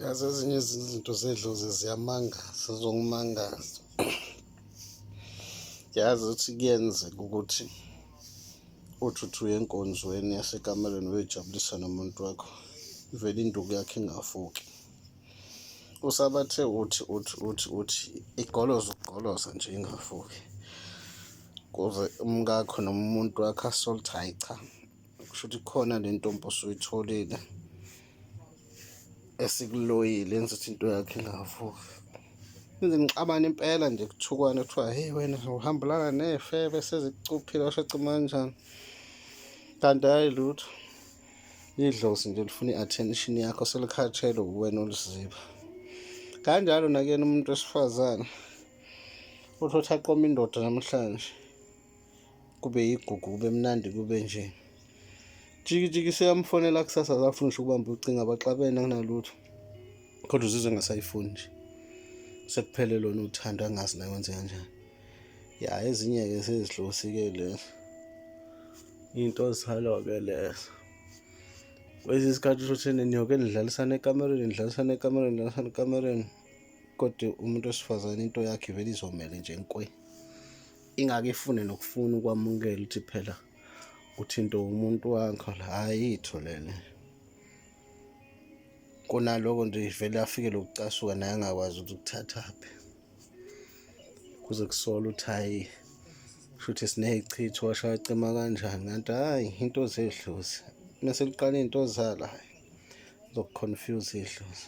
yazi ezinye izinto zedlozi ziyamangaza zongimangaza yazi ukuthi kuyenzeka ukuthi uthi uthi uye enkonzweni yasekamelweni uyojabulisa nomuntu wakho ivele induku yakhe ingafuki usabathe uthi uthi uthi uthi igoloza ukugoloza nje ingafuki kuze umkakho noma umuntu wakho asolthi hayi cha kusho ukuthi khona le ntombi osuyitholile esikuloyile enza ukuthi into yakhe ingavuki enze ngixabana impela nje kuthukwane kuthiwa heyi wena uhambelana ney'febe sezikucuphile washo cima kanjani kanti hhayi lutho idlozi nje lifuna i-attention yakho selikhatshelwe uwena oluziba kanjalo nakuyena umuntu wesifazane uthi othi aqoma indoda namhlanje kube yigugu kube mnandi kube nje jikijiki seyamfonela kusasa akafuni ngisho ukubamba ucinga baxabene akunalutho kodwa uzizwe engasayifuni nje sekuphele lona uthando angazi naye wenze kanjani ya ezinye-ke sezidlosi-ke lezo into zalo-ke lezo kwesinye isikhathi usho ukuthi niyoke nidlalisane ekamereni nidlalisane ekamereni nidlalisane ekamereni kodwa umuntu wesifazane into yakhe vele izomele nje nkwe ingake ifune nokufuna ukwamukela ukuthi phela uthinte umuntu wakho la ayitho lele kunaloko nje ivele afike lokucasuka naye angakwazi ukuthi ukuthathaphi kuze kusola ukuthi hayi shuthi siney'chitho washaya cima kanjani kanti hhayi into zedlozi uma seliqala iy'nto zala hhayi zokuconfuse idlozi